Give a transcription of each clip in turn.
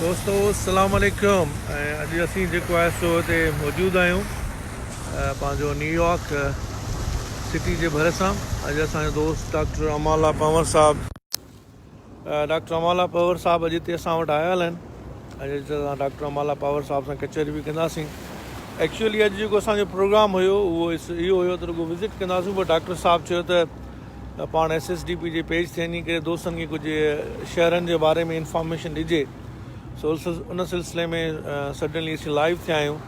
دوستو السلام عليڪم ۽ اڄ اسين جيڪو آهي سو هتي موجود آهيون پنهنجو نيويارڪ سٽي جي ڀرسان اڄ اسان جو دوست ڊاڪٽر امالا پنور صاحب ڊاڪٽر امالا پاور صاحب اڄ تي اسان وٽ آيل آهن اڄ اسان ڊاڪٽر امالا پاور صاحب سان ڪچهري به ڪنداسين ايڪچولي اڄ جيڪو اسان جو پروگرام هيو اهو اهو هيو ته رڳو وزٽ ڪنداسون پر ڊاڪٽر صاحب چيو ته پاڻ ايس ايس ڊي پي جي پيج تي وڃي ڪري دوستن کي ڪجهه شهرن جي باري ۾ انفارميشن ڏجي سو ان سلسلي ۾ سڊنلي اسين لائيو ٿيا آهيون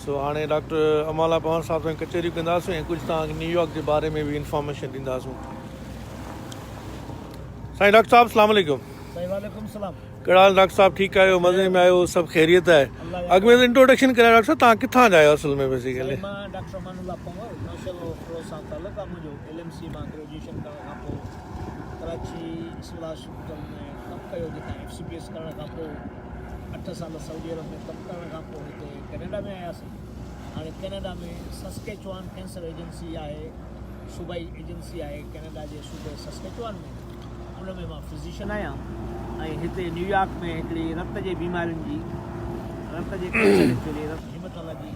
سو هاڻي ڊاڪٽر امالا پوهان صاحب سان ڪچهريون ڪنداسون ۽ ڪجهه تان نيويارڪ جي باري ۾ به انفارميشن ڏينداسون سائين ڊاڪٽر صاحب السلام علیڪم سائين وعليڪم السلام ڪهڙا حال ڊاڪٽر صاحب ٺيڪ آهيو مزي ۾ آهيو سڀ خيريت آهي اڳ ۾ انٽروڊڪشن ڪريا ڊاڪٽر صاحب تان ڪٿان جا آهيو اصل ۾ بيسيڪلي مان ڊاڪٽر امان الله پنهور ماشاء الله فروز صاحب تعلق آ منهنجو ايل ايم سي مان گريجوئيشن ڪرڻ کان پوء ڪراچي اسپلاش ھوٽل ۾ ڪم ڪيو جتان ايف سي پي ايس ڪرڻ کان پوء اٺ سال سعودي عرب ۾ ڪم ڪرڻ کان پوء ھتي ڪينيڊا ۾ آياسين ھاڻي ڪينيڊا ۾ سسڪيچوان ڪينسر ايجنسي آھي صوبائي ايجنسي آھي ڪينيڊا جي صوبي سسڪيچوان ۾ ان ۾ مان فزيشن آھيان ۽ ھتي نيويارڪ ۾ ھڪڙي رت جي بيمارين جي رت جي ڪينسر جي رت ھيمٽالاجي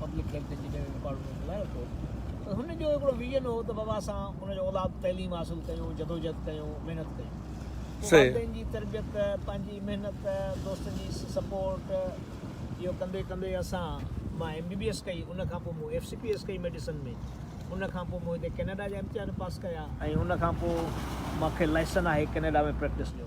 پبلڪ ليڪچر جي جنهن رڪارڊ مون کي لايو ٿو ته هن جو هڪڙو ويزن هو ته بابا اسان ان جو اولاد تعليم حاصل ڪيون جدوجهد ڪيون محنت ڪيون پوء والدين جي تربيت پنهنجي محنت دوستن جي سپورٽ اهو ڪندي ڪندي اسان مان ايم بي بي ايس ڪئي ان کان پوء مون ايف سي پي ايس ڪئي ميڊيسن ۾ ان کان پوء مون هتي ڪينيڊا جا امتحان پاس ڪيا ۽ ان کان پوء مان کي لائسن آهي ڪينيڊا ۾ پريڪٽس جو.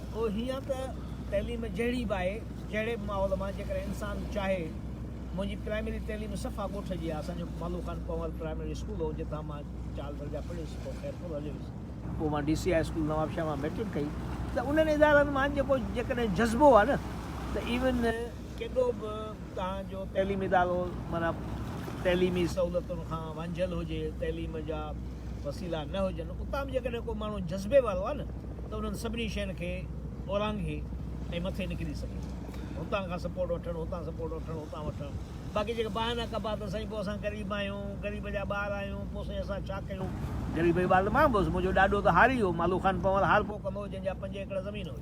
او هيئن ته تعليم جهڙي به آهي، جهڙي به ماحول مان جيڪڏهن انسان چاهي، منهنجي پرائمري تعليم صفا ڳوٺ جي آهي، اسان جو مالو خان پنهور پرائمري اسڪول هو، جتان مان چار درجا پڙهيس، پوء خير پور هليو ويس. پوء مان D C I school Nawabshah مان مئٽرڪ ڪئي ته انهن ادارن مان جيڪو جيڪڏهن جذبو آهي نه ته ايون ڪيڏو به توهان جو تعليمي ادارو معنيٰ تعليمي سهولتن کان وانجهيل هجي، تعليم جا وسيلا نه هجن، اتان به جيڪڏهن ڪو ماڻهو جذبي وارو آهي نه ته انهن سڀني شين کي اورانگهي ۽ مٿي نڪري سگهي ٿو. هتان کان سپورٽ وٺڻ، هتان سپورٽ وٺڻ، هتان وٺڻ. باقي جيڪي بهانا ڪبا ته سائين پوء اسان غريب آهيون، غريب جا ٻار آهيون، پوء سائين اسان ڇا ڪيون؟ غريب جو ٻار ته مان به هوس، منهنجو ڏاڏو ته هاري هو، مالو خان پنهور هارپو ڪندو هو، جنهن جا پنج ايڪڙ زمين هئي.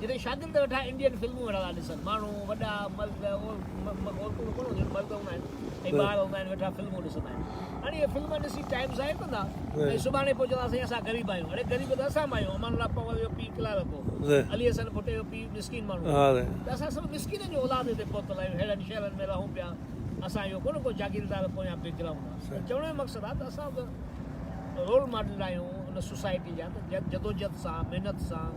جتي شاگرد ويٺا انڊين فلمون ويٺا ٿا ڏسن. ماڻهو، وڏا، مرد، عورتون ته ڪونه هونديون آهن، مرد هوندا آهن ۽ ٻار هوندا آهن، ويٺا فلمون ڏسندا آهن. هاڻي اهي فلم ڏسي ٽائيم ضايع ڪندا ۽ سڀاڻي پوء چوندا سائين اسان غريب آهيون. اڙي غريب ته اسان به آهيون. امان الله پنهور جو پيء ڪلارڪ هو. علي حسن ڀٽي جو پيء مسڪين ماڻهو هو. ته اسان سڀ مسڪينن جو اولاد هتي پهتل آهيون. ههڙن شهرن ۾ رهون پيا. اسان اهو ڪونه ڪو جاگيردار پويان بيڪ گرائونڊ آهي. ته چوڻ جو مقصد آهي ته اسان به رول ماڊل آهيون ان سوسائٽي جا ته جدوجهد سان، محنت سان،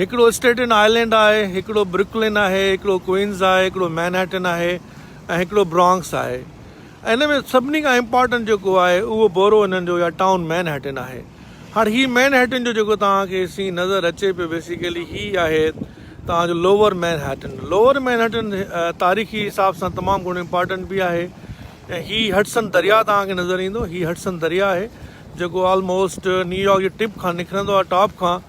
هڪڙو اسٽيٽن آئلينڊ آهي، هڪڙو برڪلن آهي، هڪڙو ڪوئنز آهي، هڪڙو مئنهٽن آهي ۽ هڪڙو برانڪس آهي ۽ انهن ۾ سڀني کان امپارٽنٽ جيڪو آهي اهو بورو انهن جو يا ٽائون مئنهٽن آهي. هاڻ هي مئنهٽن جو جيڪو توهان کي سين نظر اچي پيو بيسيڪلي هي آهي توهان جو لوور مئنهٽن. لوور مئنهٽن تاريخي حساب سان تمام گهڻو امپارٽنٽ به آهي ۽ هي هڊسن درياء توهان کي نظر ايندو هي هڊسن درياء آهي جيڪو آلموسٽ نيويارڪ جي ٽپ کان نڪرندو آهي ٽاپ کان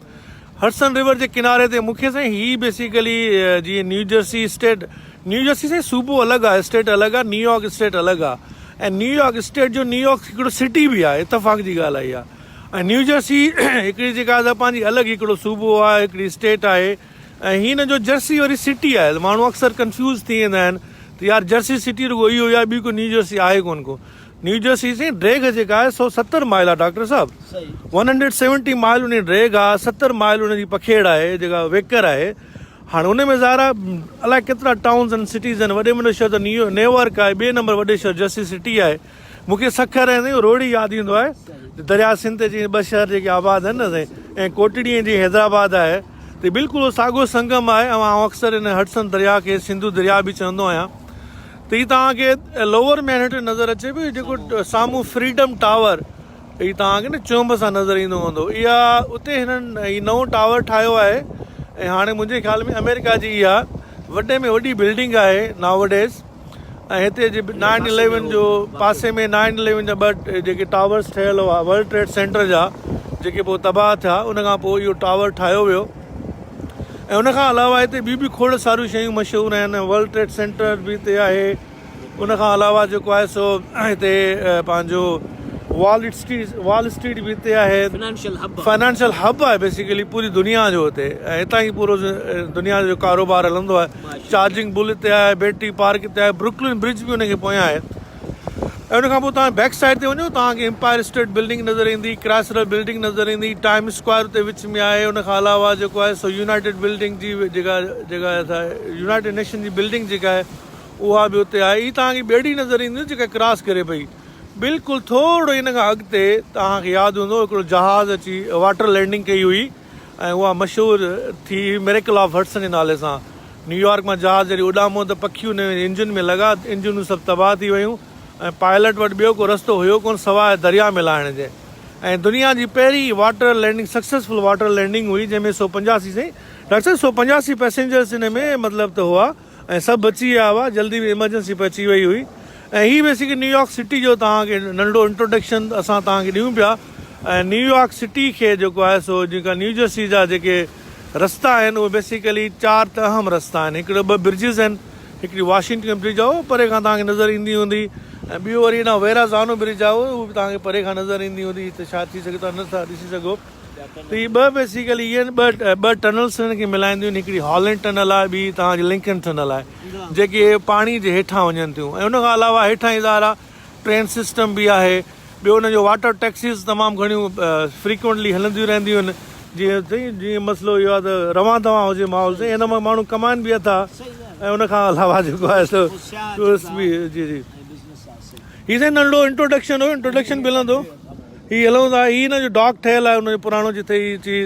هڊسن ريور جي ڪناري تي مونکي سائين هي بيسيڪلي جيئن نيوجرسي اسٽيٽ نيوجرسي سائين صوبو الڳ آ اسٽيٽ الڳ آ نيويارڪ اسٽيٽ الڳ آ ۽ نيويارڪ اسٽيٽ جو نيويارڪ هڪڙو سٽي به آ اتفاق جي ڳالهه اهي آ ۽ نيوجرسي هڪڙي جيڪا آ سا پنهنجي الڳ هڪڙو صوبو آ هڪڙي اسٽيٽ آهي ۽ هي هن جو جرسي وري سٽي آهي ماڻهو اڪثر ڪنفيوز ٿي ويندا آهن ته يار جرسي سٽي رڳو اهي هو يا ٻي ڪو نيوجرسي آهي ڪون ڪو نيوجرسي سين ڊريگهه جيڪا آهي سو ستر مائل آهي ڊاڪٽر صاحب ون هنڊريڊ سيونٽي مائل انهي ڊريگهه آهي ستر مائل ان جي پکيڙ آهي جيڪا ويڪر آهي هاڻي ان ۾ ظاهر آهي الائي ڪيترا ٽائونز ان سٽيز آهن وڏي ۾ وڏو شهر ته نيو نيوارڪ آهي ٻئي نمبر وڏي شهر جرسي سٽي آهي مونکي سکر ۽ سائين روهڙي ياد ايندو آهي درياء سنڌ تي جيئن ٻه شهر جيڪي آباد آهن نه سائين ۽ ڪوٽڙي ۽ جيئن حيدرآباد آهي ته بلڪل اهو ساڳو سنگم آهي ۽ آئون اڪثر ان هڊسن درياء کي سنڌو درياء به چوندو آهيان هي توهان کي لوور مينهٽن نظر اچي پيو جيڪو سامهون فريڊم ٽاور هي توهان کي نه چونب سان نظر ايندو هوندو اها اتي هنن هي نئون ٽاور ٺاهيو آهي ۽ هاڻي منهنجي خيال ۾ آمريڪا جي اها وڏي ۾ وڏي بلڊنگ آهي ناوڊيز ۽ هتي جي نائن اليون جو پاسي ۾ نائن اليون جا ٻه جيڪي ٽاورس ٺهيل هئا ورلڊ ٽريڊ سينٽر جا جيڪي پوء تباهه ٿيا ان کان پوء اهو ٽاور ٺاهيو ويو ۽ ان کان علاوه هتي ٻيون به کوڙ ساريون شيون مشهور آهن ورلڊ ٽريڊ سينٽر به هتي آهي ان کان علاوه جيڪو آهي سو هتي پنهنجو وال اسٽريٽ وال اسٽريٽ به هتي آهي فائنانشل هب آهي بيسيڪلي پوري دنيا جو هتي ۽ هتان ئي پورو دنيا جو ڪاروبار هلندو آهي چارجنگ بل هتي آهي بيٽري پارڪ هتي آهي بروڪلن برج به ان کي پويان آهي ۽ ان کان پوء توهان بيڪ سائيڊ تي وڃو توهان کي امپائر اسٽيٽ بلڊنگ نظر ايندي، ڪرائسلر بلڊنگ نظر ايندي، ٽائيم اسڪوائر اتي وچ ۾ آهي، ان کان علاوه جيڪو آهي سو يونائيٽيڊ بلڊنگ جي جيڪا جيڪا يونائيٽيڊ نيشن جي بلڊنگ جيڪا آهي اها به اتي آهي، هي توهان کي ٻيڙي نظر ايندي جيڪا ڪراس ڪري پئي، بلڪل ٿورڙو ان کان اڳتي توهان کي ياد هوندو هڪڙو جهاز اچي واٽر لينڊنگ ڪئي هئي ۽ اها مشهور ٿي هئي ميريڪل آف هڊسن جي نالي سان، نيويارڪ مان جهاز جڏهن اڏامو ته پکي ان جي انجن ۾ لڳا، انجنون سڀ تباهه ٿي ويون ۽ پائلٽ وٽ ٻيو ڪو رستو هيو ڪونه سواء درياء ۾ لاهڻ جي ۽ دنيا جي پهرين water landing successful water landing هئي جنهن ۾ سؤ پنجاسي سائين ڊاڪٽر صاحب سؤ پنجاسي پئسينجرس ان ۾ مطلب ته هئا ۽ سڀ بچي ويا هئا جلدي ۾ ايمرجنسي به اچي وئي هئي ۽ هي بيسڪلي نيويارڪ سٽي جو توهان کي ننڍڙو انٽروڊڪشن اسان توهان کي ڏيون پيا ۽ نيويارڪ سٽي کي جيڪو آهي سو جيڪا نيوجرسي جا جيڪي رستا آهن اهي بيسيڪلي چار ته اهم رستا آهن هڪڙو ٻه برجز آهن هڪڙي واشنگٽن برج آهي اهو پري کان توهان کي نظر ايندي هوندي ۽ ٻيو وري هيڏانهن ويرازانو برج آهي اهو به توهان کي پري کان نظر ايندي هوندي هتي شايد ٿي سگهي توهان نه ٿا ڏسي سگهو ته هي ٻه بيسيڪلي اهي آهن ٻه ٻه ٽنلس هنن کي ملائينديون آهن هڪڙي هالنڊ ٽنل آهي ٻي توهان جي لنڪن ٽنل آهي جيڪي پاڻي جي هيٺان وڃن ٿيون ۽ ان کان علاوه هيٺان ئي ظاهر آهي ٽرين سسٽم به آهي ٻيو ان جو واٽر ٽيڪسيز تمام گهڻيون فريڪوئنٽلي هلنديون رهنديون آهن جيئن سائين جيئن مسئلو اهو آهي ته روان دوان هجي ماحول سائين ان مان ماڻهو ڪمائن به اٿا ۽ ان کان علاوه جيڪو آهي سو ٽوئرسٽ به جي جي هي سائين ننڍڙو انٽروڊڪشن هو انٽروڊڪشن به هلندو هي هلون ٿا هي هن جو ڊاڪ ٺهيل آهي ان جو پراڻو جتي هي چيز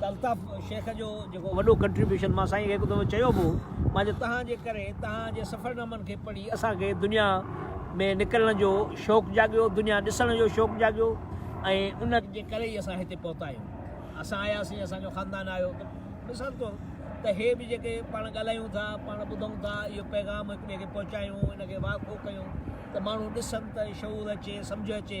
ته الطاف شيخ جو جيڪو وڏو ڪنٽريبيوشن مان سائين کي هڪ دفعو چيو به هو مان جو تهان جي ڪري تهان جي سفرنامن کي پڙهي اسان کي دنيا ۾ نڪرڻ جو شوق جاڳيو دنيا ڏسڻ جو شوق جاڳيو ۽ ان جي ڪري ئي اسان هتي پهتا آهيون اسان آياسين اسان جو خاندان آيو ته مثال طور ته هي به جيڪي پاڻ ڳالهايون ٿا پاڻ ٻڌون ٿا اهو پيغام هڪ ٻئي کي پهچايون ان کي واقفو ڪيون ته ماڻهو ڏسن ته شعور اچي سمجهه اچي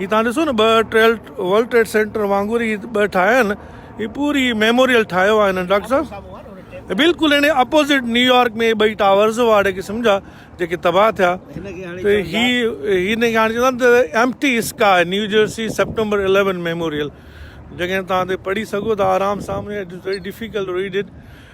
هي توهان ڏسو نه ٻه ٽريل ورلڊ ٽريڊ سينٽر وانگر هي ٻه ٺاهيا آهن هي پوري ميموريل ٺاهيو آهي هنن ڊاڪٽر صاحب بلڪل هن اپوزٽ نيويارڪ ۾ ٻئي ٽاورز هئا اهڙي قسم جا جيڪي تباهه ٿيا ته هي هن کي هاڻي چوندا ته ايمٽي اسڪا New Jersey September eleven memorial جيڪڏهن تان تي پڙهي سگهو ته آرام سان ڊفيڪلٽ ٽو ريڊ اٽ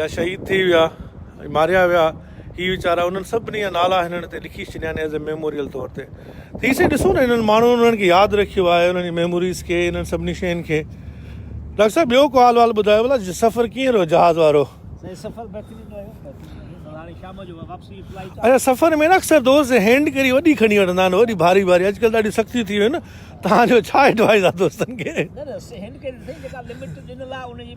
يا شهيد ٿي ويا ۽ ماريا ويا هي ويچارا انهن سڀني جا نالا هنن هتي لکي ڇڏيا آهن ايز اي ميموريل طور تي ته هي سائين ڏسو نه هنن ماڻهن انهن کي ياد رکيو آهي انهن جي ميموريز کي انهن سڀني شين کي ڊاڪٽر صاحب ٻيو ڪو حال وال ٻڌايو ڀلا سفر ڪيئن رهيو جهاز وارو سائين سفر بهترين رهيو بهترين هاڻي شام جو واپسي جي فلائيٽ اچا اچھا، سفر ۾ نه اڪثر دوست هينڊ ڪري وڏي کڻي وٺندا آهن وڏي ڀاري ڀاري اڄڪلهه ڏاڍيون سختيون ٿي ويون آهن توهان جو ڇا ايڊوائيز آهي دوستن کي نه نه هينڊ ڪري جيڪا لمٽ ڏنل آهي ان جي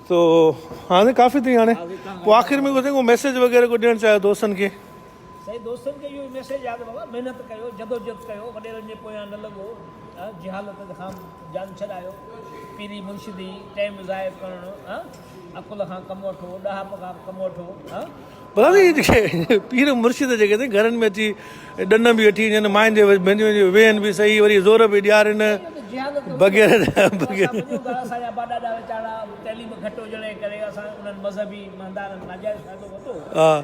تو هاڻي ڪافي ٿي هاڻي پوء آخر ۾ ڪو ميسيج وغيره ڪو ڏيڻ چاهيو دوستن کي. سائين دوستن کي اهو ئي ميسيج آهي ته بابا محنت ڪيو جدوجهد ڪيو وڏيرن جي پويان نه لڳو جهالت کان جان ڇڏايو پيري مرشدي ٽيم ضايع ڪرڻ عقل کان ڪم وٺو ڏاهپ کان ڪم وٺو ڀلي اهي جيڪي پير مرشد جيڪي اٿئي گهرن ۾ اچي ڏنم به وٺي وڃن ماين جي ڀينجون وينجون ويهن به سهي وري زور به ڏيارين بغير ها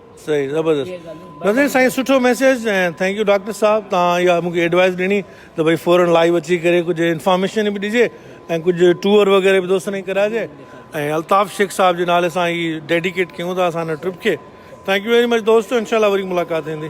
صحيح زبردست نظير سائين سٺو ميسيج ۽ ٿينڪ يو ڊاڪٽر صاحب توهان اها مونکي ايڊوائس ڏني ته ڀئي فورن لائيو اچي ڪري ڪجهه انفارميشن به ڏجي ۽ ڪجهه ٽوئر وغيره به دوستن کي ڪراجي ۽ الطاف شيخ صاحب جي نالي سان هي ڊيڊيڪيٽ ڪيون ٿا اسان هن ٽرپ کي ٿينڪ يو ويري مچ دوستو انشاء الله وري ملاقات ٿيندي.